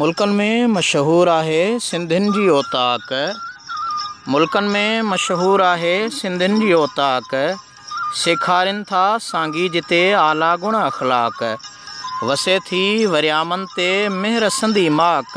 ملڪن ۾ مشهور آهي سنڌين جي اوطاق ملڪن ۾ مشهور آهي سنڌين جي اوطاق سيکارين ٿا سانگي جتي اعليٰ گڻ اخلاق وسي ٿي وريامن تي مهر سنڌي ماڪ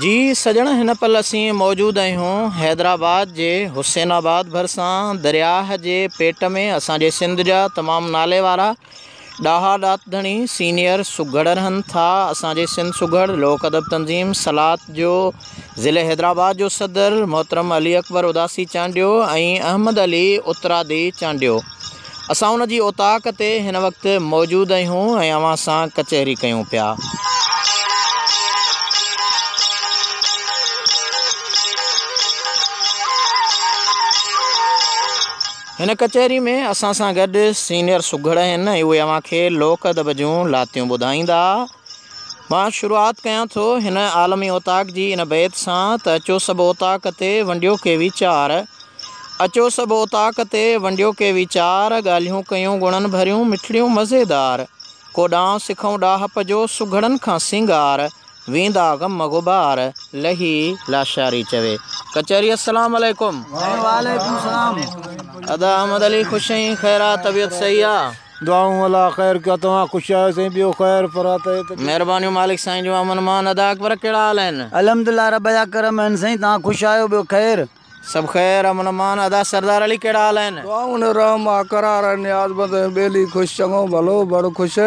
جي سڄڻ هن پل اسين موجود اهيون حيدرآباد جي حسين آباد ڀرسان درياهه جي پيٽ ۾ اسان جي سنڌ جا تمام نالي وارا ڏاها ڏات ڌڻي سينيئر سگهڙ رهن ٿا اسان جي سنڌ سگهڙ لوڪ ادب تنظيم سلات جو ضلعي حيدرآباد جو صدر محترم علي اڪبر اداسي چانڊيو ۽ احمد علي اترادي چانڊيو اسان ان جي اوطاق تي هن وقت موجود اهيون ۽ اوهان سان ڪچهري ڪيون پيا. هن ڪچهري ۾ اسان سان گڏ سينيئر سگهڙ آهن ۽ اهي اوهان کي لوڪ ادب جون لاتيون ٻڌائيندا. مان شروعات ڪيان ٿو هن عالمي اوطاق جي ان بيت سان ته اچو سڀ اوطاق تي ونڊيو ڪي ويچار اچو سڀ اوطاق تي ونڊيو ڪي ويچار، ڳالهيون ڪيون گڻن ڀريون مٺڙيون مزيدار، ڪوڏانهن سکئون ڏاهپ جو سگهڙن کان سينگار، ويندا غم غبار لهي لاشاري چوي ڪچهري السلام عليڪم. سائين وعليڪم السلام. ادا احمد علي خوش ائين خير آ طبيعت صحيح آ. دعائون الله خير ڪيا توهان خوش آهيو سائين ٻيو خير پر آ طيعت ڪيا. مھربانيون مالڪ سائين جون امن امان ادا اڪبر ڪھڙا حال آھن. الحمدلله رب جا ڪرم آھن سائين توھان خوش آھيو ٻيو خير. سڀ خير امن امان ادا سردار علي ڪهڙا حال آهن. دعائون ۽ رحم اقرار ۽ نياز بند ۽ ٻيلي خوش چڱو ڀلو بڙ خوش.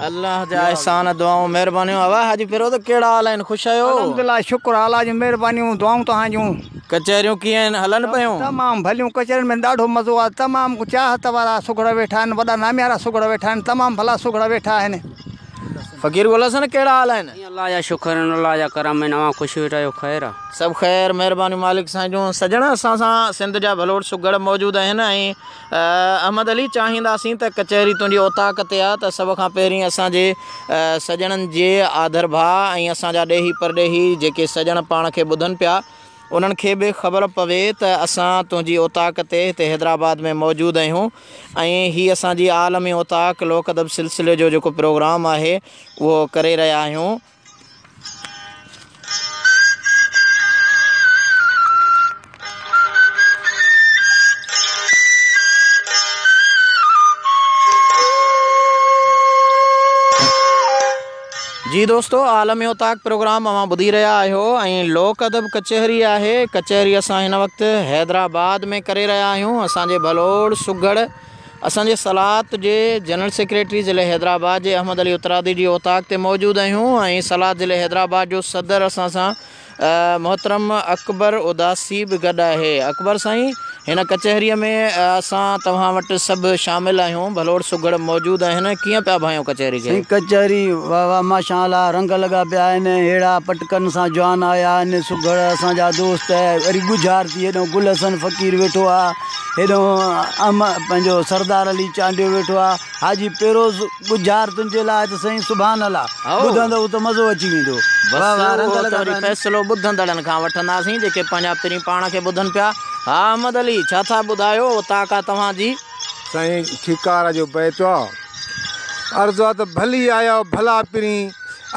الله جا احسان دعائون مهربانيون اوا حاجي فيروز ڪهڙا حال آهن خوش آهيو. الحمدلله شڪر اعليٰ جون مهربانيون دعائون توهان جون. ڪچهريون ڪيئن آهن هلن پيون. تمام ڀليون ڪچهرين ۾ ڏاڍو مزو آهي تمام چاهت وارا سگهڙا ويٺا آهن وڏا ناميارا سگهڙا ويٺا آهن تمام ڀلا سگهڙا ويٺا آهن. فقير گل حسن ڪهڙا حال آهن. جي الله جا شڪر آهن الله جا ڪرم آهن اوهان خوش ويٺا آهيو خير آ. سڀ خير مهربانيون مالڪ سائين جون. سڄڻ اسان سان سنڌ جا ڀلوڙ سگهڙ موجود آهن ۽ احمد علي چاهينداسين ته ڪچهري تنهنجي اوطاق تي آ ته سڀ کان پهرين اسان جي سڄڻن جي آڌر ڀاء ۽ اسان جا ڏيهي پرڏيهي جيڪي سڄڻ پاڻ کي ٻڌن پيا انهن کي به خبر پوي ته اسان تنهنجي اوطاق تي هتي حيدرآباد ۾ موجود اهيون ۽ هي اسان جي عالمي اوطاق لوڪ ادب سلسلي جو جيڪو پروگرام آهي اهو ڪري رهيا آهيون. جي دوستو عالم اوطاق پروگرام اوهان ٻڌي رهيا آهيو ۽ لوڪ ادب ڪچهري آهي ڪچهري اسان هن وقت حيدرآباد ۾ ڪري رهيا آهيون اسان جي ڀلوڙ سگهڙ اسان جي صلات جي جنرل سيڪريٽري ضلع حيدرآباد جي احمد علي اترادي جي اوطاق تي موجود آهيون ۽ صلات ضلع حيدرآباد جو صدر اسان سان محترم اڪبر اداسي به گڏ آهي. اڪبر سائين هن ڪچهريء ۾ اسان توهان وٽ سڀ شامل آهيون ڀلوڙ سگهڙ موجود آهن ڪيئن پيا ڀانيو ڪچهري کي. سائين ڪچهري واه واه ماشا الله رنگ لڳا پيا آهن هيڙا پٽڪن سان جوان آيا آهن سگهڙ اسان جا دوست وري ڳجهار ٿي هيڏهون گل حسن فقير ويٺو آهي هيڏهون احمد پنهنجو سردار علي چانڊيو ويٺو آهي حاجي پيروز ٻجهار تنهنجي لاء ته سائين سبحان الله ٻڌندؤ ته مزو اچي ويندو واهه واهه رنگ لڳا پيا آهن. فيصلو ٻڌندڙن کان وٺنداسين جيڪي پنهنجا پرين پاڻ کي ٻڌن پيا ها احمد علي ڇا ٿا ٻڌايو اوطاق آ توهان جي. سائين ٺيڪار جو بيت آ. عرض آ ته ڀلي آيا ڀلا پرين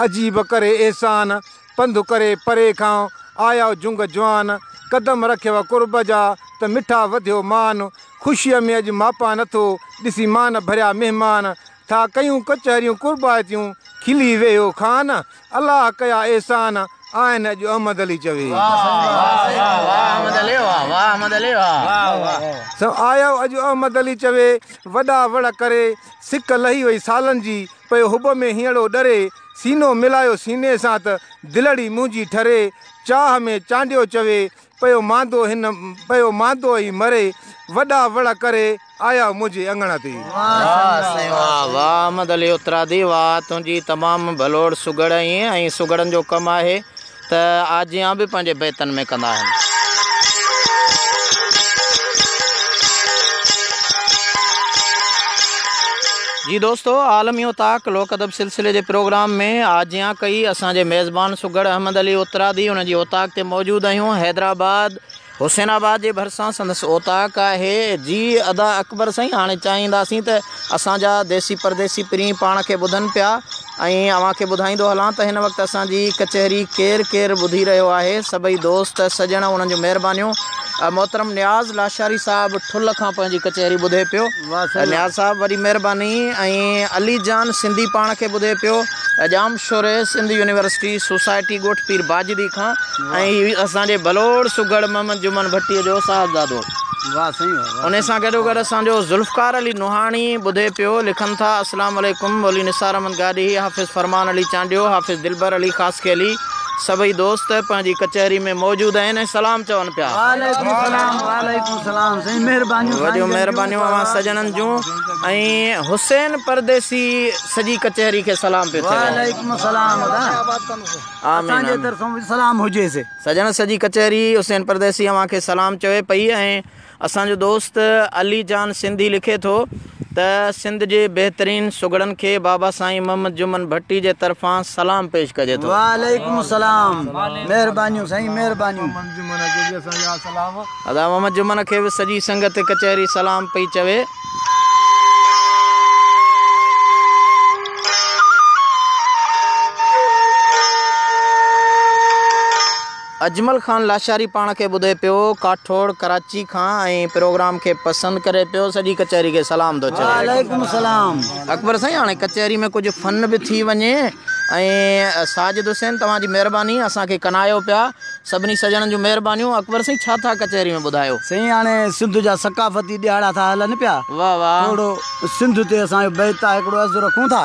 عجيب ڪري احسان پنڌ ڪري پري کان آياو جنگ جوان، قدم رکيو قرب جا ته مٺا وڌيو مان، خوشيء ۾ اڄ ماپان نٿو ڏسين مان ڀريا مهمان، ٿا ڪيون ڪچهريون قربائتيون کلي ويهيو خان، الله ڪيا احسان آهن اڄ احمد علي چوي. سو آياو اڄ احمد علي چوي، وڏا وڙ ڪري، سڪ لهي وئي سالن جي، پيو حب ۾ هينئڙو ڏري، سينو ملايو سيني سان ته دلڙي منهنجي ٺري، چاهه ۾ چانڊيو چوي، پيو ماندو هن پيو ماندو ۽ مري، وڏا وڙ ڪري آيا منهنجي اڱڻ تي. واه سائين واه واه احمد علي اترادي واه تنهنجي تمام ڀلوڙ سگهڙ ائين ۽ سگهڙن جو ڪم آهي ته آجيان به پنهنجي بيتن ۾ ڪندا آهن. جي دوستو عالمي و طاق لوڪ ادب سلسلي جي پروگرام ۾ آجيان ڪئي اسان جي ميزبان سگهڙ احمد علي اترادي ان جي اوطاق تي موجود آهيون حيدرآباد حسين آباد جي ڀرسان سندس اوطاق آهي. جي ادا اڪبر سائين هاڻي چاهينداسين ته اسان جا ديسي پرديسي پرين پاڻ کي ٻڌن پيا ۽ اوهان کي ٻڌائيندو هلان ته هن وقت اسان جي ڪچهري ڪير ڪير ٻڌي رهيو آهي سڀئي دوست سڄڻ انهن جون مهربانيون محترم نياز لاشاري صاحب ٺل کان پنهنجي ڪچهري ٻڌي پيو. نياز صاحب وڏي مھرباني ۽ علي جان سنڌي پاڻ کي ٻڌي پيو Jamshoro Sindh university society ڳوٺ پير باجدي کان ۽ ھي اسان جي بلوڙ سگهڙ محمد جمن ڀٽي جو صاحبزادو انھي سان گڏو گڏ اسان جو ذوالفقار علي نوحاڻي ٻڌي پيو لکن ٿا اسلام عليڪم مولوي نثار احمد گاڏهي حافظ فرمان علي چانڊيو حافظ دلبر علي خاصخيلي سڀئي دوست پنهنجي ڪچهري ۾ موجود آهن ۽ سلام چون پيا. وعليڪم السلام وعليڪم السلام سائين مهربانيون سائين وڏيون جن مهربانيون جون اوهان سڄڻن جون ۽ حسين پرديسي سڄي ڪچهري کي سلام پيو ٿئي وعليڪم السلام ادا آمين اسان جي آمين طرفون به سلام هجيس. سڄڻ سڄي ڪچهري حسين پرديسي اوهان کي سلام چوي پئي ۽. اسان جو دوست علي جان سنڌي لکي ٿو ته سنڌ جي بهترين سگهڙن کي بابا سائين محمد جمن ڀٽي جي طرفان سلام پيش ڪجي ٿو. وعليڪم السلام مهربانيون سائين مهربانيون. ادا محمد جمن کي به سڄي سنگت ڪچهري سلام پئي چوي. اجمل خان لاشاري پاڻ کي ٻڌي پيو ڪاٺوڙ ڪراچي کان ۽ پروگرام کي پسند ڪري پيو سڄي ڪچهري کي سلام ٿو چوي. وعليڪم السلام. اڪبر سائين هاڻي ڪچهري ۾ ڪجهه فن به ٿي وڃي ۽ ساجد حسين توهان جي مهرباني اسان کي ڪنايو پيا سڀني سڄڻن جون مهربانيون اڪبر سائين ڇا ٿا ڪچهري ۾ ٻڌايو. سائين هاڻي سنڌ جا ثقافتي ڏهاڙا ٿا هلن پيا. واھ واھ. ٿورو سنڌ تي اسان جو بيت آهي هڪڙو عرض رکون ٿا.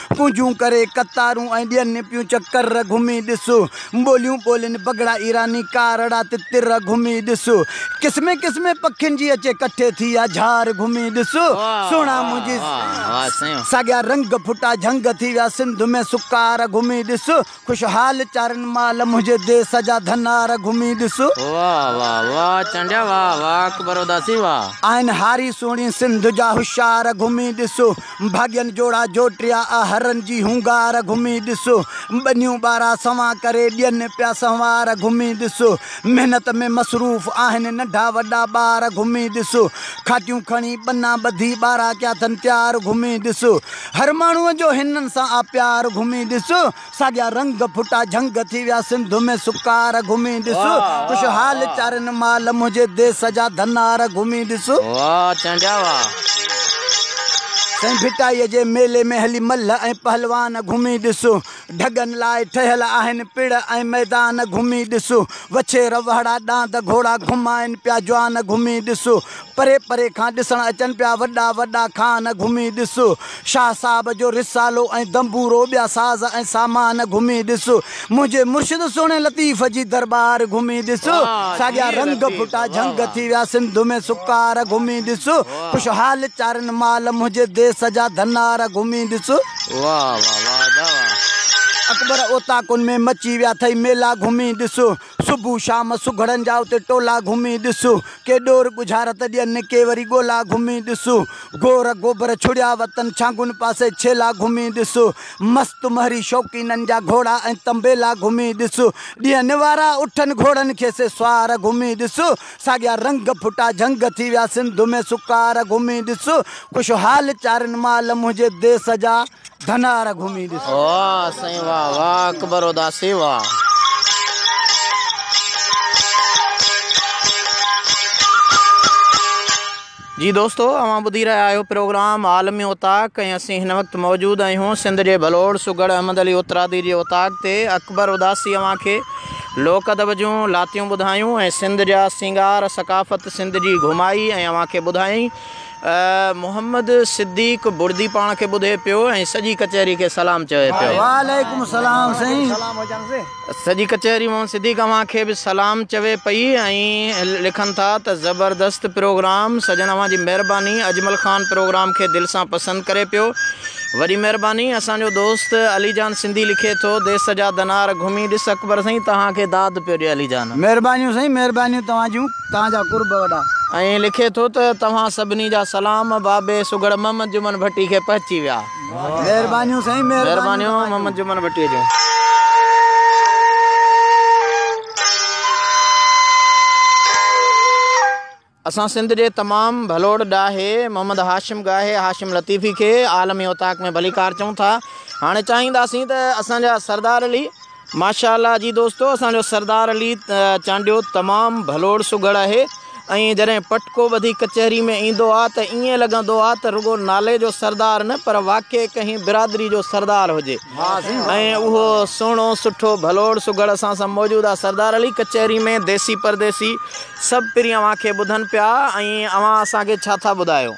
ڪونجون ڪري قطارون ۽ ڏين پيون چڪر گهمي ڏس ٻوليون ٻولين پگهڙا ايراني ڪارڙا تتر گهمي ڏس قسمين قسمين پکين جي اچي ڪٺي ٿي آ جهار گهمي ڏس سهڻا منهنجي ساڳيا رنگ ڦٽا جهنگ ٿي ويا سنڌ ۾ سڪار گهمي ڏس خوشحال چارن مال منهنجي ديس جا ڌنار گهمي ڏس. واھ واھ واھ چانڊيا واھ واھ اڪبر اداسي واھ. آهن هاري سهڻي سنڌ جا هوشيار گهمي ڏس. ڀاڳين جوڙا جوٽيا آ هرن جي هونگار گهمي ڏس. ٻنيون ٻارا سنوان ڪري ڏين پيا سنوار گهمي ڏس. محنت ۾ مصروف آهن ننڍا وڏا ٻار گهمي ڏس. کاٽيون کڻي ٻنا ٻڌي ٻارا ڪيا ٿن تيار گهمي ڏس. هر ماڻهوء جو هنن سان آ پيار گهمي ڏس ساڳيا رنگ ڦٽا جهنگ ٿي ويا سنڌ ۾ سڪار گهمي ڏس خوش حال چارين مال منهنجي ديس جا ڌنار گهمي ڏس. واھ تيان جا واھ. سائين ڀٽائي جي ميلي ۾ هلي ملهه ۽ پهلوان گهمي ڏس. ڍڳن لاء ٺهيل آهن پڙ ۽ ميدان گهمي ڏس وڇي روهڙا ڏاند گهوڙا گهمائن پيا جوان گهمي ڏس پري پري کان ڏسڻ اچن پيا وڏا وڏا خان گهمي ڏس شاهه صاحب جو رسالو ۽ دنبورو ٻيا ساز ۽ سامان گهمي ڏس منهنجي مرشد سهڻي لطيف جي درٻار گهمي ڏس ساڳيا رنگ ڦٽا جهنگ ٿي ويا سنڌ ۾ سڪار گهمي ڏس. خوشحال چارين مال منهنجي ديس جا ڌنار گهمي ڏس. اڪبر اوطاقن ۾ مچي ويا ٿئي ميلا گهمي ڏس. صبح شام سگهڙن جا اتي ٽولا گهمي ڏس. ڪي ڏور ڳجهارت ڏين ڪي وري ڳولا گهمي ڏس. گور گوبر ڇڙيا وتن ڇانگن پاسي ڇيلا گهمي ڏس. مست مهري شوقينن جا گهوڙا ۽ تنبيلا گهمي ڏس. ڏينهن نوارا اٺن گهوڙن کي سي سوار گهمي ڏس. ساڳيا رنگ ڦٽا جهنگ ٿي ويا سنڌ ۾ سڪار گهمي ڏس خوش حال چارين مال منهنجي ديس جا ڌنار گهمي ڏس. واھ سائين واھ واھ اڪبر اداسي واھ. جي دوستو اوهان ٻڌي رهيا آهيو پروگرام عالمي اوطاق ۽ اسين هن وقت موجود آهيون سنڌ جي ڀلوڙ سگهڙ احمد علي اترادي جي اوطاق تي اڪبر اداسي اوهان کي لوڪ ادب جون لاتيون ٻڌايون ۽ سنڌ جا سينگار ثقافت سنڌ جي گهمائي ۽ اوهان کي ٻڌائين محمد صديق بڙدي پاڻ کي ٻڌي پيو ۽ سڄي ڪچهري کي سلام چوي پيو. وعليڪم السلام سائين. سڄي ڪچهري مان صديق اوهان کي به سلام چوي پئي ۽ لکن ٿا ته زبردست پروگرام سڄڻ اوهان جي مهرباني اجمل خان پروگرام کي دل سان پسند ڪري پيو وڏي مهرباني اسان جو دوست علي جان سنڌي لکي ٿو ديس جا دنار گهمي ڏس اڪبر سائين توهان کي داد پيو ڏي علي جان. مهربانيون سائين مهربانيون توهان جون توهان جا قرب وڏا. ۽ لکي ٿو ته توهان سڀني جا سلام بابي سگهڙ محمد جمن ڀٽي کي پهچي ويا. مھربانيون سائين مھربانيون محمد جمن ڀٽي جون. اسان سنڌ جي تمام ڀلوڙ ڏاهي محمد هاشم گاهي هاشم لطيفي کي عالمي اوطاق ۾ ڀليڪار چئون ٿا هاڻي چاهينداسين ته اسان جا سردار علي ماشاء الله جي دوستو اسان جو سردار علي چانڊيو تمام ڀلوڙ سگهڙ آهي ۽ جڏهن پٽڪو ٻڌي ڪچهري ۾ ايندو آ ته ائين لڳندو آ ته رڳو نالي جو سردار نه پر واقعي ڪنهن برادري جو سردار هجي ۽ اهو سهڻو سٺو ڀلوڙ سگهڙ اسان سان موجود آ سردار علي ڪچهري ۾ ديسي پرديسي سڀ پرين اوهان کي ٻڌن پيا ۽ اوهان اسان کي ڇا ٿا ٻڌايو.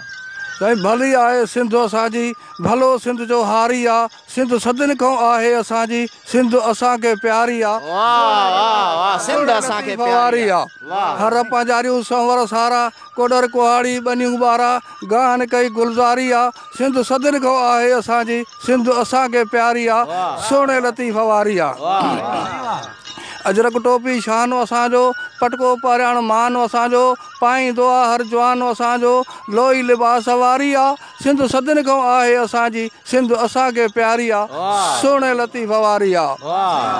سائين ڀلي آهي سنڌ اسان جي ڀلو سنڌ جو هاري آ سنڌ صدين کان آهي اسان جي. سنڌ اسان کي پياري آ. ڪوڏر نڪي ڦوهاري آ. هر پنهنجاريون سنور سارا. ڪوڏر ڪهاڙي ٻنيون ٻارا. گاهه نڪي گلزاري آ. سنڌ صدين کان آهي اسان جي. سنڌ اسان کي پياري آ. سهڻي لطيف واري آ. اجرڪ ٽوپي شان اسان جو. پٽڪو پهرياڻ مان اسان جو. پائيندو آ هر جوان اسان جو. لوئي لباس واري آ. سنڌ صدين کان آهي اسان جي. سنڌ اسان کي پياري آ. سهڻي لطيف واري آ.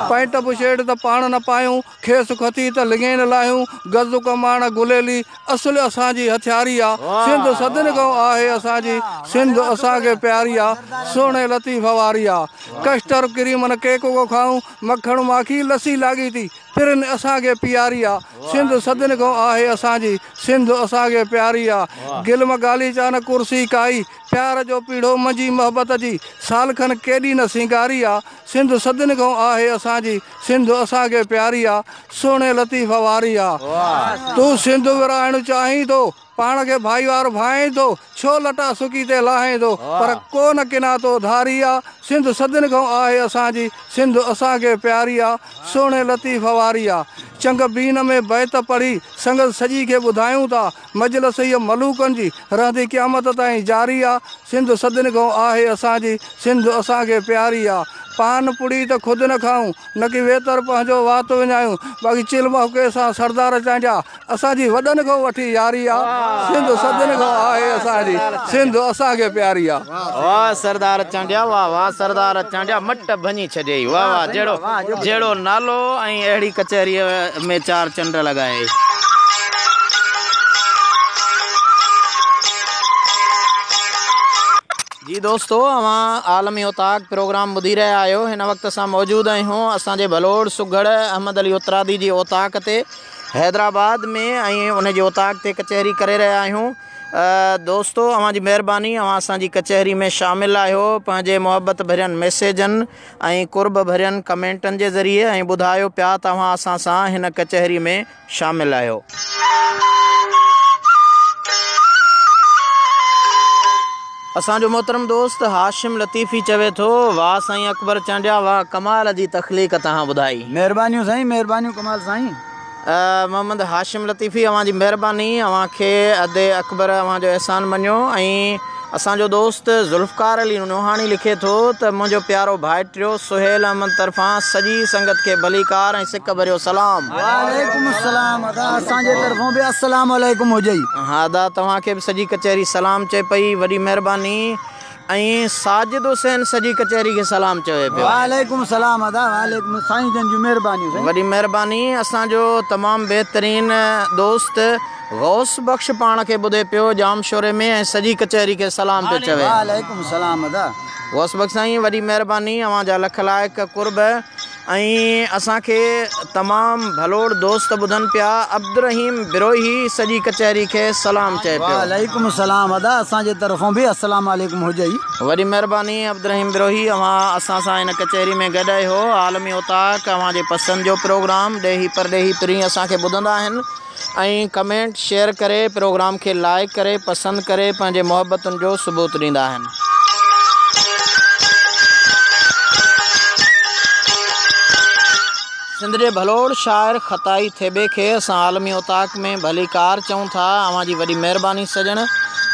پئنٽ بشيٽ ته پاڻ نه پايون. کيس کٿي ته لڱي نه لاهيون. گز ڪماڻ گليلي اصل اسان جي هٿياري آ. سنڌ صدين کان آهي اسان جي. سنڌ اسان کي پياري آ. سهڻي لطيف واري آ. ڪسٽر ڪريمن ڪيڪ ڪو کائون. مکڻ ماکي لسي لاڳيتي پرين اسان کي پياري آ. سنڌ صدين کان آهي اسان جي. سنڌ اسان کي پياري آ. گلم غاليچا نه ڪرسي ڪائي. پيار جو پيڙهو منجهي محبت جي سالکن ڪيڏي نه سينگاري آ سنڌ صدين کان آهي اسان جي سنڌ اسان کي پياري آ سهڻي لطيف واري آ تون سنڌ ورهائڻ چاهين ٿو پاڻ کي ڀائيوار ڀائين ٿو ڇو لٽا سڪي تي لاهين ٿو پر ڪو نه ڪنا تو ڌاري آ سنڌ صدين کان آهي اسان جي سنڌ اسان کي پياري آ سهڻي لطيف واري آ چنگ بين ۾ بيت پڙهي سنگت سڄي کي ٻڌايون ٿا مجلس هيء ملوڪن جي رهندي قيامت تائين جاري آ، سنڌ صدين کان آهي اسان جي، سنڌ اسان کي پياري آ. پان پڙي ته خود نه کائون، نڪي ويتر پنهنجو وات وڃايون، باقي چل مهڪي سان سردار چانڊيا، اسان جي وڏن کان وٺي ياري آ، سنڌ صدين کان آهي اسان جي، سنڌ اسان کي پياري آ. واھ سردار چانڊيا واھ واھ سردار چانڊيا مٽ ڀڃي ڇڏيئي واھ واھ جهڙو جهڙو نالو ۽ اهڙي ڪچهري. ۾ چار چنڊ لڳائي. جي دوستو اوهان عالمي اوطاق پروگرام ٻڌي رهيا آهيو هن وقت اسان موجود آهيون اسان جي ڀلوڙ سگهڙ احمد علي اترادي جي اوطاق تي حيدرآباد ۾ ۽ ان جي اوطاق تي ڪچهري ڪري رهيا آهيون دوستو اوهان جي مهرباني اوهان اسان جي ڪچهري ۾ شامل آهيو پنهنجي محبت ڀرين ميسيجن ۽ قرب ڀرين ڪمينٽن جي ذريعي ۽ ٻڌايو پيا توهان اسان سان هن ڪچهري ۾ شامل آهيو. اسان جو محترم دوست هاشم لطيفي چوي ٿو واه سائين اڪبر چانڊيا واه ڪمال جي تخليق توهان ٻڌائي. مهربانيون سائين مهربانيون ڪمال سائين. محمد هاشم لطيفي اوهان جي مهرباني اوهان کي ادي اڪبر اوهان جو احسان مڃيو ۽ اسان جو دوست ذوالفقار علي نوحاڻي لکي ٿو ته منهنجو پيارو ڀائٽيو سهيل احمد طرفان سڄي سنگت کي ڀليڪار ۽ سڪ ڀريو سلام. وعليڪم السلام ادا اسان جي طرفون به السلام عليڪم هجئي. ها ادا توهان کي به سڄي ڪچهري سلام چئي پئي وڏي مهرباني ۽ ساجد حسين سڄي ڪچهري کي سلام چوي پيو. وعليڪم السلام ادا وعليڪم سائين جن جون مهربانيون سائين. وڏي مهرباني اسان جو تمام بهترين دوست غوث بخش پاڻ کي ٻڌي پيو ڄام شوري ۾ ۽ سڄي ڪچهري کي سلام پيو چوي. وعليڪم السلام ادا. غوث بخش سائين وڏي مهرباني اوهان جا لک لائق قرب. ۽ اسان کي تمام ڀلوڙ دوست ٻڌن پيا عبدالرحيم بروهي سڄي ڪچهري کي سلام چئي پيو. وعليڪم السلام ادا اسان جي طرفون به السلام عليڪم هجئي. وڏي مهرباني عبدالرحيم بروهي اوهان اسان سان هن ڪچهري ۾ گڏ اهو عالمي اوطاق اوهان جي پسند جو پروگرام ڏيهي پرڏيهي پرين اسان کي ٻڌندا آهن. ۽ ڪمينٽ شيئر ڪري پروگرام کي لائيڪ ڪري پسند ڪري پنهنجي محبتن جو ثبوت ڏيندا آهن. سنڌ جي ڀلوڙ شاعر خطائي ٿيٻي کي اسان عالمي اوطاق ۾ ڀلي ڪار چئون ٿا. اوهان جي وڏي مهرباني سڄڻ.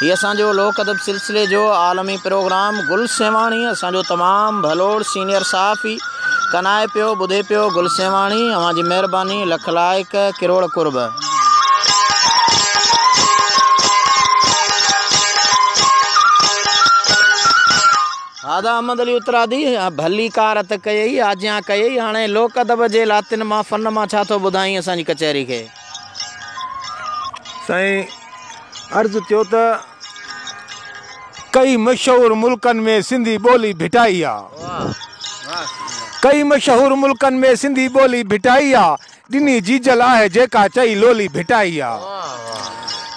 هي اسان جو لوڪ ادب سلسلي جو عالمي پروگرام گل سيوهاڻي اسان جو تمام ڀلوڙ سينيئر صحافي. ڪنائي پيو ٻڌي پيو گل سيوهاڻي اوهان جي مهرباني لک لائق ڪروڙ قرب. هادا احمد علي اترادي ڀلي ڪار اٿ ڪيئي آجيان ڪيئي هاڻي لوڪ ادب جي لاتين مان فن مان ڇا ٿو ٻڌائين اسان جي ڪچهري کي. سائين عرض ڪيو ته ڪئي مشهور ملڪن ۾ سنڌي ٻولي ڀٽائي آ ڪئي مشهور ملڪن ۾ سنڌي ٻولي ڀٽائي آ ڏني جيجل آهي جيڪا چئي لولي ڀٽائي آ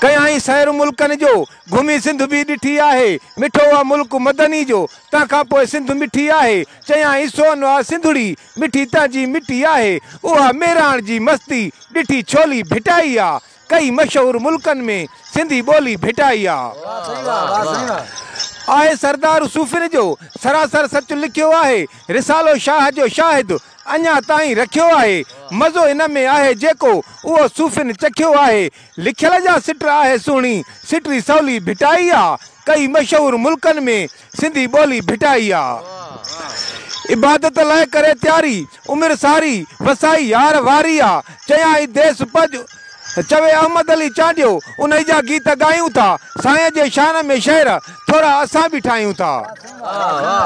ڪيائين سير ملڪن جو گهمي سنڌ به ڏٺي آهي مٺو آ ملڪ مدني جو تنهن کان پوء سنڌ مٺي آهي چيائين سونهن آ سنڌڙي مٺي تنهنجي مٽي آهي، اها ميراڻ جي مستي، ڏٺي ڇولي ڀٽائي آ، ڪئي مشهور ملڪن ۾، سنڌي ٻولي ڀٽائي آ. آهي سردار صوفين جو، سراسر سچ لکيو آهي، رسالو شاهه جو شاهد، اڃا تائين رکيو آهي، مزو ان ۾ آهي جيڪو، اهو صوفين چکيو آهي، لکيل جا سٽ آهي سهڻي، سٽي سولي ڀٽائي آ، ڪئي مشهور ملڪن ۾. سنڌي ٻولي ڀٽائي آ. عبادت لئه ڪري تياري، عمر ساري وسائي يار واري آ. چيائين ديس پڄ، چوي احمد علي چانڊيو، انهي جا گيت ڳايون ٿا، سائين جي شان ۾ شعر، ٿورا اسان به ٺاهيون ٿا.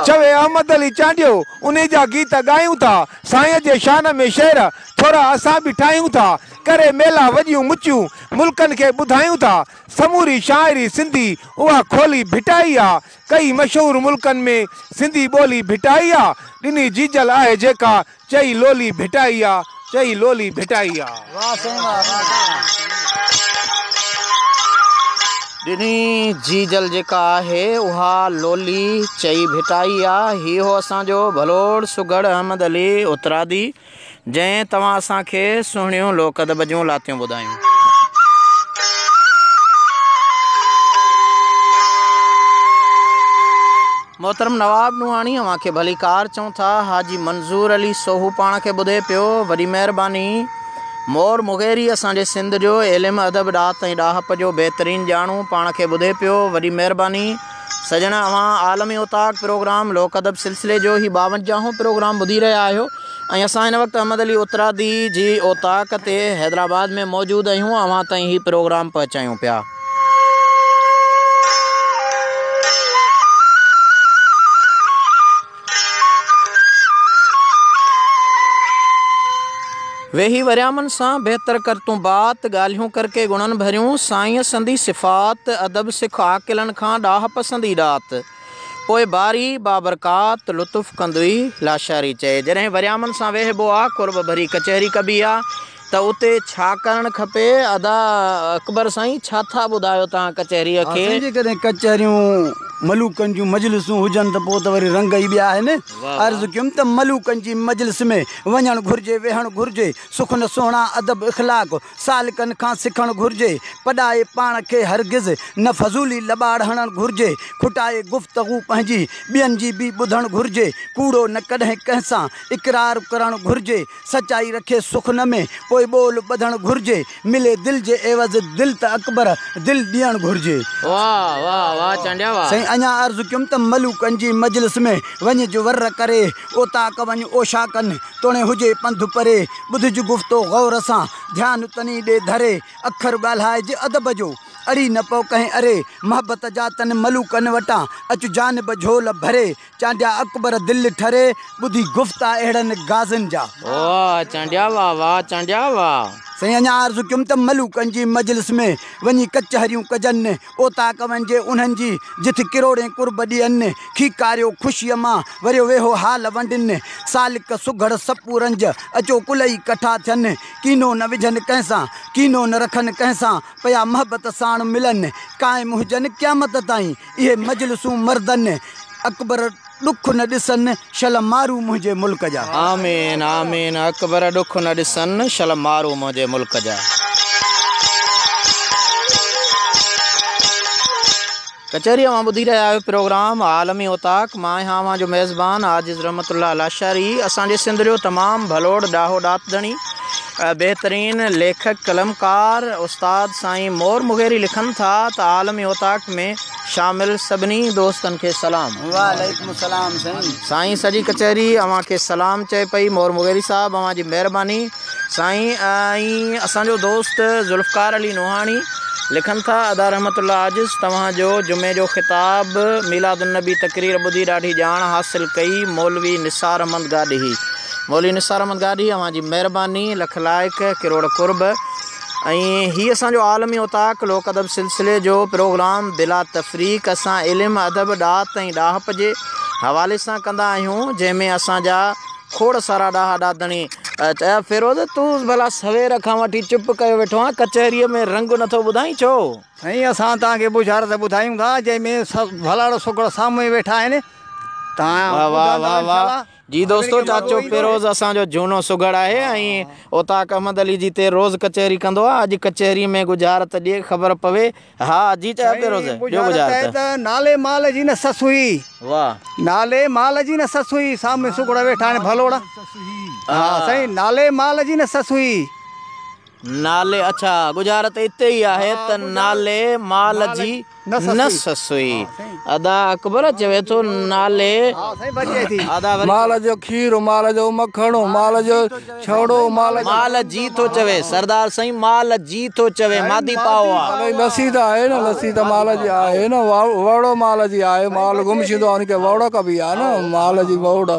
چوي احمد علي چانڊيو، انهي جا گيت ڳايون ٿا، سائين جي شان ۾ شعر، ٿورا اسان به ٺاهيون ٿا. ڪري ميلا وڏيون مچيون، ملڪن کي ٻڌايون ٿا. سموري شاعري سنڌي اها کولي ڀٽائي آ، ڪئي مشهور ملڪن ۾ سنڌي ٻولي ڀٽائي آ، ڏني جيجل آهي جيڪا چئي لولي ڀٽائي آ، چئي لولي ڀٽائي آ. واھ سائين واھ واھ سائين. ڏني جيجل جيڪا آهي اها لولي چئي ڀٽائي آ. هي هو اسان جو ڀلوڙ سگهڙ احمد علي اترادي. جنهن توهان اسان کي سهڻيون لوڪ ادب جون لاتيون ٻڌايون. محترم نواب نوحاڻي اوهان کي ڀليڪار چئون ٿا. حاجي منظور علي سوهو پاڻ کي ٻڌي پيو. وڏي مهرباني. مور مغيري اسان جي سنڌ جو علم ادب ڏات ۽ ڏاهپ جو بهترين ڄاڻو پاڻ کي ٻڌي پيو. وڏي مهرباني. سڄڻ اوهان عالمي اوطاق پروگرام لوڪ ادب سلسلي جو هي ٻاونجاهون پروگرام ٻڌي رهيا آهيو ۽ اسان هن وقت احمد علي اترادي جي اوطاق تي حيدرآباد ۾ موجود آهيون اوهان تائين هي پروگرام پهچايون پيا ويهي وريامن سان بهتر ڪر تون بات، ڳالهيون ڪر ڪي گڻن ڀريون، سائينء سندي صفات، ادب سک عاقلن کان، ڏاهه پسندي ڏات، پوء باري بابرڪات، لطف ڪندوئي لاشاري چئي. جڏهن وريامن سان ويهبو آ، قرب ڀري ڪچهري ڪبي آ، ته اتي ڇا ڪرڻ کپي؟ ادا اڪبر سائين ڇا ٿا ٻڌايو توهان ڪچهريء ها کي. سائين جيڪڏهن ڪچهريون ملوڪن جون مجلسون هجن ته پوء ته وري رنگ ئي ٻيا آهن. واهه واهه. عرض ڪيم ته ملوڪن جي مجلس ۾ وڃڻ گهرجي ويهڻ گهرجي سخن سهڻا ادب اخلاق سالڪن کان سکڻ گهرجي پڏائي پاڻ کي هرگز نه فضولي لٻاڙ هڻڻ گهرجي کٽائي گفتگو پنهنجي ٻين جي به ٻڌڻ گهرجي ڪوڙو نه ڪڏهن ڪنهن سان اقرار ڪرڻ گهرجي سچائي رکي سخن ۾، پوء ٻول ٻڌڻ گهرجي. ملي دل جي عيوض دل ته اڪبر، دل ڏيڻ گهرجي. واه واه واه چانڊيا واه. سائين اڃا عرض ڪيم ته ملوڪن جي مجلس ۾ وڃ جو ور ڪري اوطاق وڃ اوشاڪن توڻي هجي پنڌ پري ٻڌج گفتو غور سان ڌيان تني ڏي ڌري اکر ڳالهائج ادب جو اڙي نه پو ڪنهن اري محبت جا تن ملوڪن وٽان اچ جانب جهول ڀري چانڊيا اڪبر دل ٺري، ٻڌي گفتا اهڙن غازين جا. واهه چانڊيا واهه واهه چانڊيا واهه. سائين اڃا عرض ڪيم ته ملوڪن جي مجلس ۾ وڃي ڪچهريون ڪجن، اوطاق وڃجي انهن جي جٿ ڪروڙين قرب ڏين، کيڪاريو خوشيء مان وريو ويهو حال ونڊين، سالڪ سگهڙ سپو رنج اچو ڪلئي ڪٺا ٿين، ڪينو نه وجهن ڪنهن سان، ڪينو نه رکن ڪنهن سان، پيا محبت ساڻ ملن، قائم هجن قيامت تائين. اهي مجلسون مردن، اڪبر ڏک نه ڏسن، شل مارو منهنجي ملڪ جا. آمين آمين اڪبر ڏک نه ڏسن، شل مارو منهنجي ملڪ جا. ڪچهري اوهان ٻڌي رهيا آهيو پروگرام عالمي اوطاق مان آهيان اوهان جو ميزبان عاجز رحمت الله لاشاري اسان جي سنڌ جو تمام ڀلوڙ ڏاهو ڏات ڌڻي بهترين ليکڪ قلمڪار استاد سائين مور مغيري لکن ٿا ته عالمي اوطاق ۾ شامل سڀني دوستن کي سلام. وعليڪم السلام سائين. سائين سڄي ڪچهري اوهان کي سلام چئي پئي مور مغيري صاحب اوهان جي مهرباني سائين ۽ اسان جو دوست ذوالفقار علي نوحاڻي لکن ٿا ادا رحمت الله عاجز توهان جو جمعي جو خطاب ميلاد النبي تقرير ٻڌي ڏاڍي ڄاڻ حاصل ڪئي مولوي نثار احمد گاڏهي مولوي نثار احمد گاڏهي اوهان جي مهرباني لک لائق ڪروڙ قرب ۽ هي اسان جو عالمي اوطاق لوڪ ادب سلسلي جو پروگرام بلا تفريق اسان علم ادب ڏات ۽ ڏاهپ جي حوالي سان ڪندا آهيون جنهن ۾ اسان جا کوڙ سارا ڏاها ڏاتڻي فيروز تون ڀلا سوير کان وٺي چپ ڪيو ويٺو آهين ڪچهري ۾ رنگ نٿو ٻڌائين ڇو سائين اسان توهان کي بشارت ٻڌايون ٿا جنهن ۾ ڀلاڙو سگهڙ سامهون ويٺا آهن توهان ٻڌندا انشاء الله جي دوستو چاچو فيروز اسان جو جهونو سگهڙ آهي ۽ اوطاق احمد علي جي تي روز ڪچهري ڪندو آ اڄ ڪچهري ۾ ڳجهارت ڏي خبر پوي ها جي چاچا فيروز ڏيو ڳجهارت. نالي مال جي نه سس هئي. واه. نالي مال جي نه سس هئي سامهون سگهڙ ويٺا آهن ڀلوڙا. ها سائين نالي مال جي نه سس هئي. نالي اڇا ڳجهارت اتي ئي آهي ته نالي مال جي نس سئي. ادا اڪبر چوي ٿو نالي مال جو کير مال جو مکڻ مال جو ڇوڙو مال جي ٿو چوي سردار سائين مال جي ٿو چوي مادي پاء آ. لسي ته آهي نه لسي ته مال جي آهي نه وهڙو مال جي آهي مال گم ڇيندو آهي ان کي وهڙو ڪبي آهي نه مال جي وهڙو.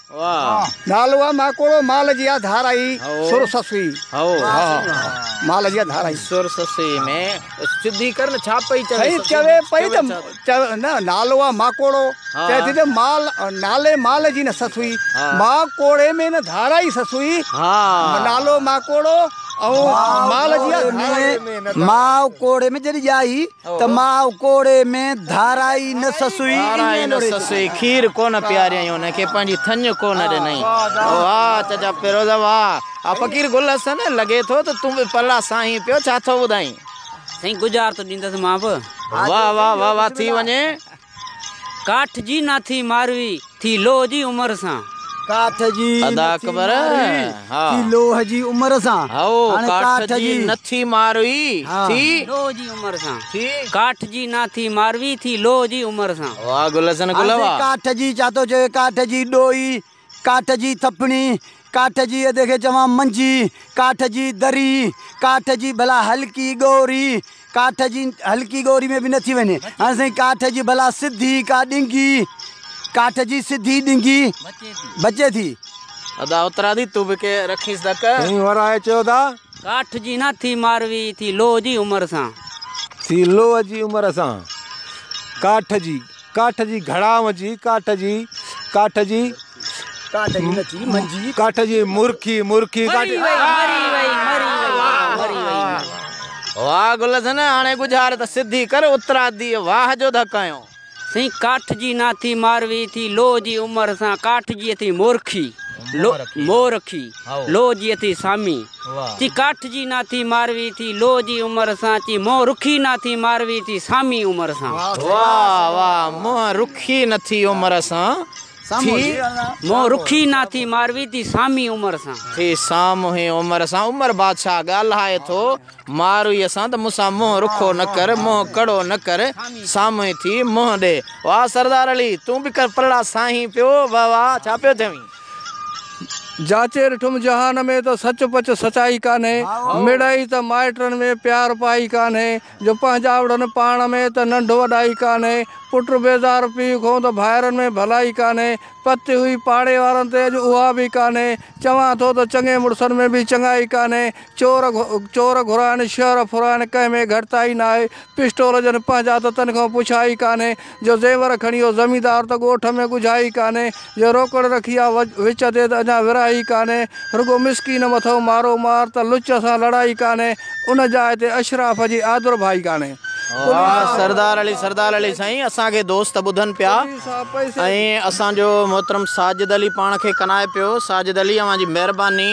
نالو آ ماڪوڙو مال جي آ ڌارائي سر سسئي مال جي آ ڌارائي سر سسئي ۾ سڌي ڪر نه ڇا پئي چوي سائين چوي پئي ته نه نالو آ ماڪوڙو چي ٿي ته مال نالي مال جي نه سسئي ما ڪوڙي ۾ نه ڌارائي سسئي ها نالو ماڪوڙو ۽ مال جي آ ڌارائي ما ڪوڙي ۾ جڏي ڄائي ته ماء ڪوڙي ۾، ڌارائي نه سسئي. ڌارائي نه سسئي، کير ڪونه پياريائين ان کي، پنهنجي ٿڃ ڪونه ڏنائين. واهه چچا فيروز واهه. آء فقير گل حسن، لڳي ٿو ته تون به پلا ساهين پيو، ڇا ٿو ٻڌائين؟ سائين ڳجهار ٿو ڏيندس مان به. واهه واهه واهه واهه ٿي وڃي. ڪاٺ جي نه ٿي ماروي، ٿي لوهه جي عمر سان. ڪاٺ جي نه ٿي ماروي، ٿي لوهه جي عمر سان. هائو، ڪاٺ جي نه ٿي ماروي، ٿي. لوهه جي عمر سان. ٿي. ڪاٺ جي نه ٿي ماروي، ٿي لوهه جي عمر سان. واهه گل حسن گل واهه. عرض ڪاٺ جي چا ٿو چوي ڪاٺ جي ڏوهي ڪاٺ جي ٿڦڻي، ڪاٺ جي ادي کي چوان منجي، ڪاٺ جي دري، ڪاٺ جي ڀلا هلڪي ڳوري، ڪاٺ جي هلڪي ڳوري ۾ به نه ٿي وڃي هاڻي سائين ڪاٺ جي ڀلا سڌي ڪا ڏنگي، ڪاٺ جي سڌي ڏنگي بچي ٿي. ادا اترا ٿي تون به ڪي رکيس ڌڪ. سائين ورهائي چيو ٿا. ڪاٺ جي نه ٿي ماروي ٿي لوهه جي عمر سان. ٿي لوهه جي عمر سان ڪاٺ جي ڪاٺ جي گهڙا وجهي ڪاٺ جي ڪاٺ جي ڪاٺ جي نچي منجي ڪاٺ جي مرڪي مرڪي مري وئي مري وئي مري وئي مري وئي واهه گلزن هاڻي ڳجهار ته سڌي ڪر اترادي واهه جو ڌڪايو. سائين ڪاٺ جي ناٿي ماروي ٿي لوهه جي عمر سان ڪاٺ جي اٿي مورکي مورکي. لوء جي اٿي سامي، چي ڪاٺ جي نه ٿي ماروي ٿي لوء جي عمر سان چي منهن رکي نه ٿي ماروي ٿي سامي عمر سان. واه واه منهن رکي نه ٿي عمر سان ٿي. منهن رکي نه ٿي ماروي ٿي سامي عمر سان. ٿي سامهين عمر سان عمر بادشاهه ڳالهائي ٿو مارويء سان ته مون سان منهن رکو نه ڪر منهن ڪڙو نه ڪر سامهين ٿي منهن ڏي. واه سردار علي تون به ڪر پرڙا سائين پيو واه واه ڇا پيو چوين. جاچي ڏٺم جهان ۾ ته سچ پچ سچائي ڪانهي مڙئي ته مائٽن ۾ پيار پائي ڪانهي جو پنهنجاوڙن پاڻ ۾ ته ننڍ وڏائي ڪانهي پٽ بيزار پيء کون ته ڀائرن ۾ ڀلائي ڪانهي پتي هئي پاڙي وارن تي اڄ اها به ڪانهي چوان ٿو ته چڱي مڙسن ۾ به چڱائي ڪانهي چور چور گهرائڻ شهر ڦرائڻ ڪنهن ۾ گهٽتائي ناهي پسٽول جن پنهنجا ته تن کان پڇائي ڪانهي جو زيور کڻي او زميندار ته ڳوٺ ۾ ڳجهائي ڪانهي جو روڪڙ رکي آ وچ تي ته اڃا ورهائي ڪانهي رڳو مسڪين مٿو مارو مار ته لچ سان لڙائي ڪانهي ان جاء تي اشراف جي آڌر ڀائي ڪانهي. واه سردار علي سردار علي سائين اسان کي دوست ٻڌن پيا ۽ اسان جو محترم ساجد علي پاڻ کي ڪنائي پيو ساجد علي اوهان جي مهرباني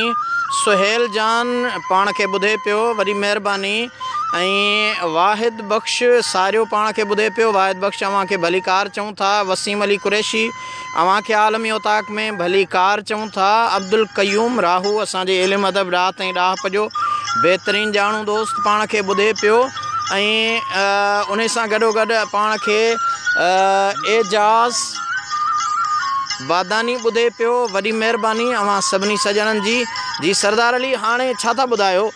سهيل جان پاڻ کي ٻڌي پيو وڏي مهرباني ۽ واحد واحد بخش ساريو پاڻ کي ٻڌي پيو، واحد بخش اوهان کي ڀليڪار چئون ٿا، وسيم علي قريشي اوهان کي عالمي اوطاق ۾ ڀليڪار چئون ٿا، عبدالقيوم راهو اسان جي علم ادب ڊاهه تائين ڏاهپ جو بهترين ڄاڻو دوست پاڻ کي ٻڌي پيو ۽ انهي سان گڏوگڏ پاڻ کي اعجاز باداني ٻڌي پيو، وڏي مهرباني اوهان سڀني سڄڻن جي. جي سردار علي هاڻي ڇا ٿا ٻڌايو.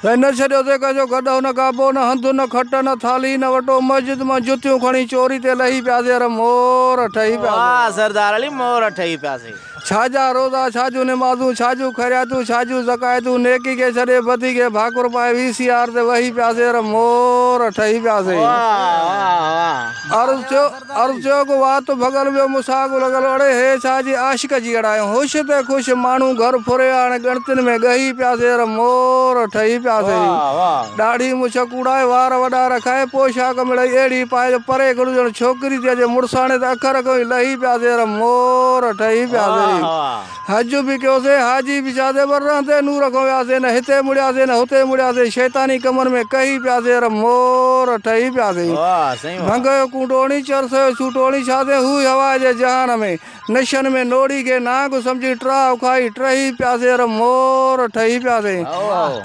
هن نه ڇڏيو ته ڪنهن جو گڏهه نه گابو، نه هنڌ، نه کٽ، نه ٿالهي، نه وٽو، مسجد مان جتيون کڻي چوري تي لهي پياسي ار مور ٺهي پياسي. واه سردار علي مور ٺهي پياسي. ڇا جا روزا، ڇا جون نمازون، ڇا جون خيرياتون، ڇا جون زڪائتون، نيڪي کي ڇڏي بدي کي ڀاڪر پائي وي سي آر تي وهي پياسي ار مور ٺهي پياسي. واه واه واه. عرض ٿيو. عرض چيو ڪو وات ڀڳل ويو مون ساڳ لڳل اڙي هيء ڇا جي عاشق جي اڙايون هوش تي خوش ماڻهو گهر ڦريا هاڻي ڳڻتين ۾ ڳهي پيا سير مور ٺهي پيا سهي ڏاڙهي مڇ ڪوڙائي وار وڏا رکائي پوشاڪ مڙئي اهڙي پائي جو پري کڙو ڄڻ ڇوڪري ٿي اچي مڙساڻي ته اک رڳون ئي لهي پيا سير مور ٺهي پيا سهي. حج به ڪيوسين، حاجي به ڇا زيور رهندي نور کون وياسين، نه هتي مڙياسين نه هتي مڙياسين، شيطاني ڪمن ۾ ڪهي پياسين ار مور ٺهي پياسين. ڀنگ هيو ڪونڊوڻي، چرس هيو سوٽوڻي، ڇا سين هو ئي هوا جي جهان ۾، نشن ۾ نوڙي کي نانگ سمجهي ٽراهه اکائي ٽهي پياسين ار مور ٺهي پياسين.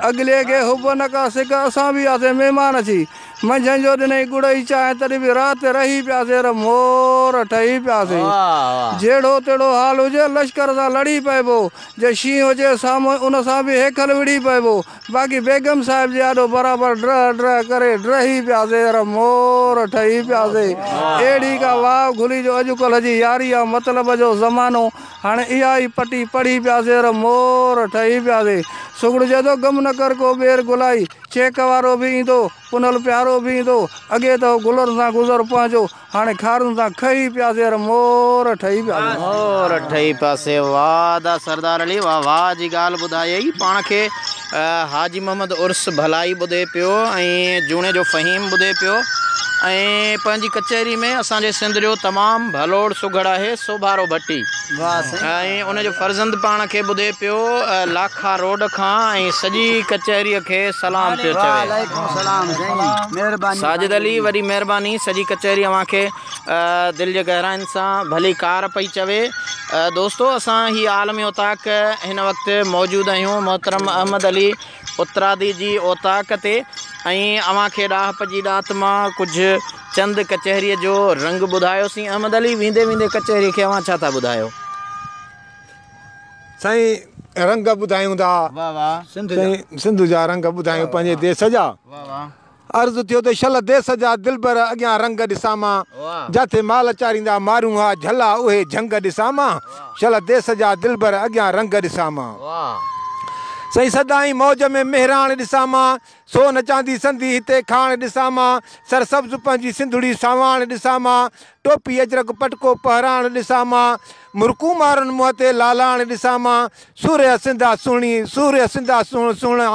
اڳلي کي حب نه ڪا سڪ، اسان به هئاسين مهمان اچي، منجهند جو ڏنئي ڳڙئي چانهه تڏهن به راهه تي رهي پياسي ر مور ٺهي پياسي. جهڙو تهڙو حال هجي لشڪر سان لڙي پئبو. جي شينهن هجي سامهون ان سان به هيکل وڙهي پئبو. باقي بيگم صاحب جي آڏو برابر ڊرهه ڊرهه ڪري ڊرهي پياسي ر مور ٺهي پياسي. اهڙي ڪا واء گهلي جو اڄڪلهه جي ياري يا مطلب جو زمانو. هاڻي اها ئي پٽي پڙهي پياسي ر مور ٺهي پياسي. سگهڙجي ٿو غم نه ڪر ڪو ٻير گهلائي. چيڪ وارو به ايندو، پنهل پيارو به ايندو، اڳي ته هو گلن سان گذر پنهنجو، هاڻي خارن سان کهي پيا زير مور ٺهي پيا سيون. مور ٺهي پيا سيون. واهه ادا سردار علي واهه واهه جي ڳالهه ٻڌائيئي. پاڻ کي حاجي محمد عرس ڀلائي ٻڌي پيو ۽ جوڻيجو فهيم ٻڌي پيو ۽ پنهنجي ڪچهري ۾ اسان جي سنڌ جو تمام ڀلوڙ سگهڙ آهي سوڀارو ڀٽي. ۽ ان جو فرزند پاڻ کي ٻڌي پيو لاکا روڊ کان ۽ سڄي ڪچهريء کي سلام پيو چوي. ساجد علي، وڏي مهرباني، سڄي ڪچهري اوهان کي دل جي گهراين سان ڀلي ڪار پئي چوي. دوستو اسان هي عالم اوطاق هن وقت موجود آهيون محترم احمد علي، اترادي جي اوطاق تي ۽ اوهان کي ڏاهپ جي ڏات مان ڪجهه چند ڪچهريء جو رنگ ٻڌايوسين. احمد علي، ويندي ويندي ڪچهريء کي اوهان ڇا ٿا ٻڌايو؟ سائين رنگ ٻڌايون ٿا سنڌ جا رنگ ٻڌايون پنهنجي ديس جا. عرض ٿيو ته شل ديس جا دلبر اڳيان رنگ ڏسان مان جاٿي مال چاريندا مارون ها جھلا اهي جھنگ ڏسان مان شل ديس جا دلبر اڳيان رنگ ڏسان مان سائين سدائين موج ۾ مهراڻ ڏسان مان سو نه چاندي سندي هتي کاڻ ڏسان مان سر سبز پنهنجي سنڌڙي ساواڻ ڏسان مان ٽوپي اجرڪ پٽڪو پهراڻ ڏسان مان مرڪون مارن منهن تي لالاڻ ڏسان مان سورهيه سنڌا سهڻي سورهيه سنڌا سهڻا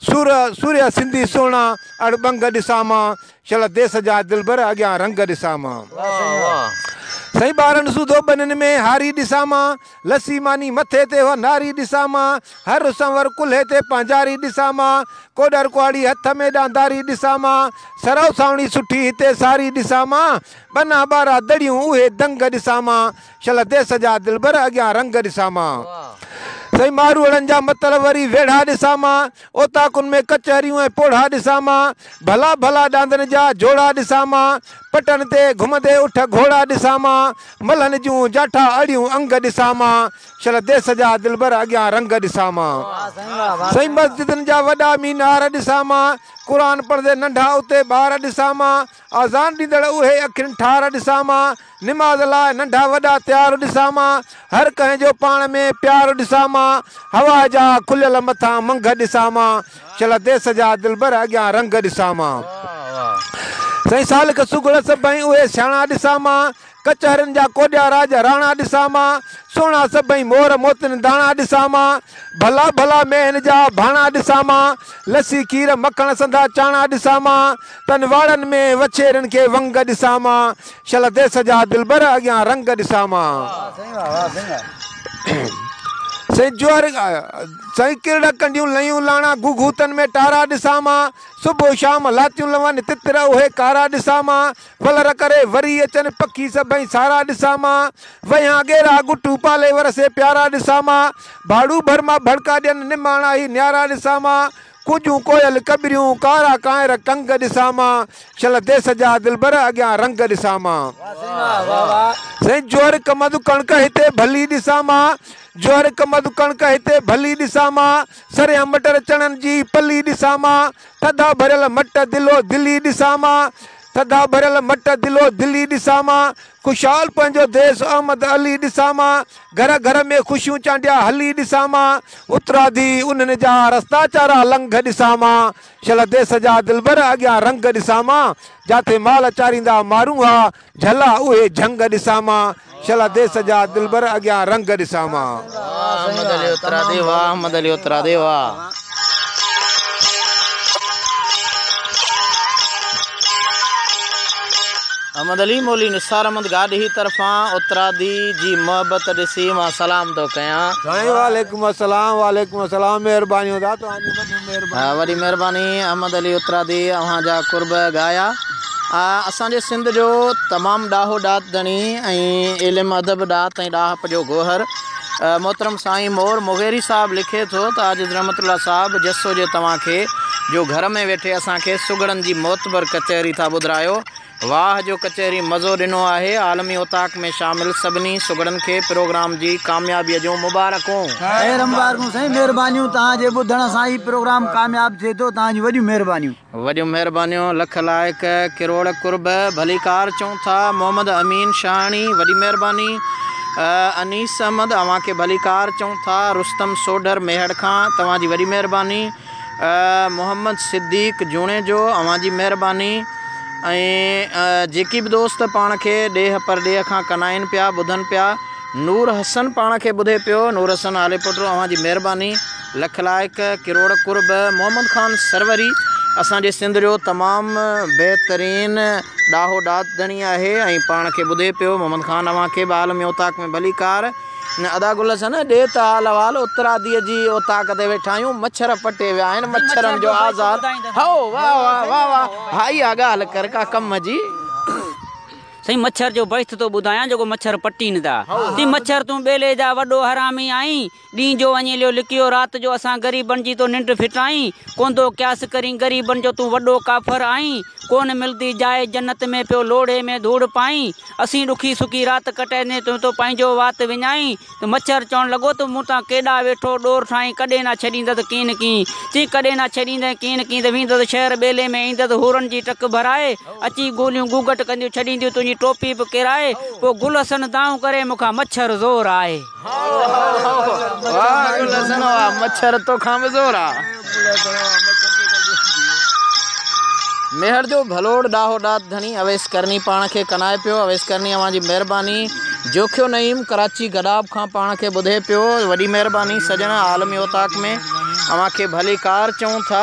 سور سوريا سنڌي سهڻا اڙ ٻنگ ڏسان مان شل ديس جا دلبر اڳيان رنگ ڏسان مان. واھ سائين واھ. سائين ٻارن سوڌو ٻنين ۾ هاري ڏسان مان لسي ماني مٿي تي اها ناري ڏسان مان هر سنور ڪلهي تي پانجاري ڏسان مان ڪوڏر ڪهاڙي هٿ ۾ ڏانداري ڏسان مان سرو سانوڻي سٺي هتي ساري ڏسان مان ٻنا ٻارا دڙيون اهي دنگ ڏسان مان شل ديس جا دلبر اڳيان رنگ ڏسان مان سائين ماروئڙن جا متل وري ويڙها ڏسان مان اوطاقن ۾ ڪچهريون ۽ پوڙها ڏسان مان ڀلا ڀلا ڏاندن جا جوڙا ڏسان مان پٽن تي گهمندي اٺ گهوڙا ڏسان مان ملهن جون جاٺا اڙيون انگ ڏسان مان شل ديس جا دلبر اڳيان رنگ ڏسان مان سائين مسجدن جا وڏا مينار ڏسان مان قرآن پڙهندي ننڍا اتي ٻار ڏسان مان آذان ڏيندڙ اهي اکين ٺار ڏسان مان، نماز لاء ننڍا وڏا تيار ڏسان مان، هر ڪنهن جو پاڻ ۾ پيار ڏسان مان، هوا جا کليل مٿان منگهه ڏسان مان، شل ديس جا دلبر اڳيان رنگ ڏسان مان. سائين سالڪ سگهڙ سڀئي اهي سياڻا ڏسان مان، ڪچهرن جا ڪوڏيا راڄ راڻا ڏسان مان، سهڻا سڀئي مور موتين داڻا ڏسان مان، ڀلا ڀلا مينهن جا ڀاڻا ڏسان مان، لسي کير مکڻ سنڌا چاڻا ڏسان مان، تن واڙن ۾ وڇيرين کي ونگ ڏسان مان، شل ديس جا دلبر اڳيان رنگ ڏسان مان. سائين جوهر سائين ڪرڙا ڪنڊيون لئيون لاڻا گهوگهوتن ۾ ٽارا ڏسان مان، صبح شام لاتيون لون تتر اهي ڪارا ڏسان مان، ولر ڪري وري اچن پکي سڀئي سارا ڏسان مان وهيان ڳيرا گٽو پالي ورسي پيارا ڏسان مان ڀاڙو ڀر مان ڀڙڪا ڏين نماڻا هي نيارا ڏسان مان ڪوڄون ڪوئل ڪٻريون ڪارا ڪانئر ڪنگ ڏسان مان شل ديس جا دلبر اڳيان رنگ ڏسان مان سائين جوهر ڪمند ڪڻڪ هتي ڀلي ڏسان مان جوهر ڪمند ڪڻڪ هتي ڀلي ڏسان مان سريان مٽر چڻن جي پلي ڏسان مان. ٿڌا ڀريل مٽ دلو دلي ڏسان مان ٿڌا ڀريل مٽ دلو دلي ڏسان مان خوشحال پنهنجو ديس احمد علي ڏسان مان گهر گهر ۾ خوشيون چانڊيا هلي ڏسان مان اترادي انهن جا رستا چارا لنگهه ڏسان مان شل ديس جا دلبر اڳيان رنگ ڏسان مان جاٿي مال چاريندا مارون ها جهلا اهي جهنگ ڏسان مان. شلا ديس جا دلبر اڳيان رنگ ڏسان مان. واهه احمد علي اترادي واهه احمد علي اترادي واهه. احمد علي مولوي نثار احمد گاڏهي طرفان اترادي جي محبت ڏسي مان سلام ٿو ڪيان. سائين وعليڪم السلام وعليڪم السلام مهربانيون دا توهان جي وڏي مهرباني. وڏي مهرباني احمد علي اترادي اوهان جا قرب ڳايا. اسان جي سنڌ جو تمام ڏاهو ڏات ڌڻي ۽ علم ادب ڏات ۽ ڏاهپ جو گوهر محترم سائين مور مغيري صاحب لکي ٿو ته عاجز رحمت الله صاحب جس هجي توهان کي جو گهر ۾ ويٺي اسان کي سگهڙن جي معتبر ڪچهري ٿا ٻڌرايو واهه جو ڪچهري مزو ڏنو آهي عالمي اوطاق ۾ شامل سڀني سگهڙن کي پروگرام جي ڪاميابي جون مبارڪون. خير مبارڪون سائين مهربانيون توهان جي ٻڌڻ سان هي پروگرام ڪامياب ٿئي ٿو توهان جون وڏيون مهربانيون. وڏيون مهربانيون لک لائق ڪروڙ قرب ڀليڪار چئون ٿا محمد امين شاهاڻي وڏي مهرباني انيس احمد اوهان کي ڀليڪار چئون ٿا رستم سوڍر ميهڙ کان توهان جي وڏي مهرباني محمد صديق جوڻيجو اوهان جي مهرباني ۽ جيڪي به دوست پاڻ کي ڏيهه پرڏيهه کان ڪنائين پيا ٻڌن پيا نور حسن پاڻ کي ٻڌي پيو نور حسن آليپٽو اوهان جي مهرباني لک لائق ڪروڙ قرب محمد خان سروري اسان جي سنڌ جو تمام بهترين ڏاهو ڏات ڌڻي آهي ۽ پاڻ کي ٻڌي پيو محمد خان اوهان کي به عالمي اوطاق ۾ ڀلي ڪار. ادا گل حسن ڏي ته حال احوال اترادي جي اوطاق تي ويٺا آهيون مڇر پٽي ويا آهن مڇرن جو آزار هائو واه واه واه واه ها اها ڳالهه ڪر ڪا ڪم جي. سائين مڇر جو بحث ٿو ٻڌايان جيڪو مڇر پٽين ٿا تي مڇر تون ٻيلي جا وڏو حرامي آهين ڏينهن جو وڃي ليو لڪيو رات جو اسان غريبن جي تو ننڊ ڦٽائين ڪونڌو قياس ڪرين غريبن جو تون وڏو ڪافر آهين ڪون ملدي جاء جنت ۾ پيو لوڙهي ۾ ڌوڙ پائين اسين ڏکي سکي رات ڪٽائيندي تون تو پنهنجو وات وڃائين ته مڇر چوڻ لڳو ته مون تان ڪيڏا ويٺو ڏور ٺاهين ڪڏهن نه ڇڏيندس ڪين ڪين چين ڪڏهن نه ڇڏيندين ڪين ڪين ته ويندس شهر ٻيلي ۾ ايندس حورن جي ٽڪ ڀرائي اچي گوليون گوگٽ ڪنديون ڇڏينديون تنهنجي ٽوپي به ڪيرائي پوء گل حسن دانهون ڪري مون کان مڇر زور آهي. ميهڙ جو ڀلوڙ ڏاهو ڏات ڌڻي اويس ڪرني پاڻ کي ڪنائي پيو اويس ڪرني اوهان جي مهرباني جوکيو نعيم ڪراچي گڏاپ کان پاڻ کي ٻڌي پيو وڏي مهرباني سڄڻ عالمي اوطاق ۾ اوهان کي ڀلي ڪار چئون ٿا.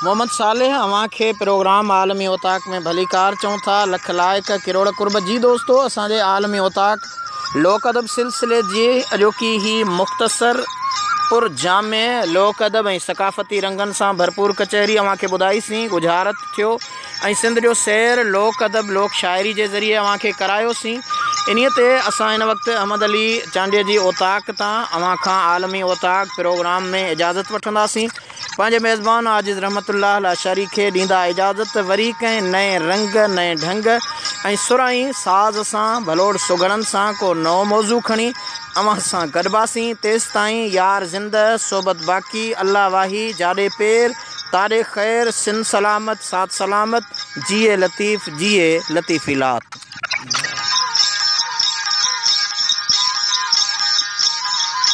محمد صالح اوهان کي پروگرام عالمي اوطاق ۾ ڀليڪار چئون ٿا لک لائق ڪروڙ قرب جي دوستو اسان جي عالمي اوطاق لوڪ ادب سلسلي جي اڄوڪي هي مختصر پر جامع لوڪ ادب ۽ ثقافتي رنگن سان ڀرپور ڪچهري اوهان کي ٻڌائي سين ڳجهارت ٿيو ۽ سنڌ جو سير لوڪ ادب لوڪ شاعري جي ذريعي اوهان کي ڪرايو سين انهي تي اسان هن وقت احمد علي چانڊيي جي اوطاق تان اوهان کان عالمي اوطاق پروگرام ۾ اجازت وٺندا سين پنهنجي ميزبان عاجز رحمت الله الاشعري کي ڏيندا اجازت ته وري ڪنهن نئين رنگ، نئين ڍنگ ۽ سر ۽ ساز سان، ڀلوڙ سگهڙن سان ڪو نئون موضوع کڻي اوهان سان گڏباسين، تيستائين يار زنده، صحبت باقي، الله واهي، جاڏي پير، تاڏي خير، سن سلامت، سات سلامت، جيئي لطيف، جيئي لطيفي لات.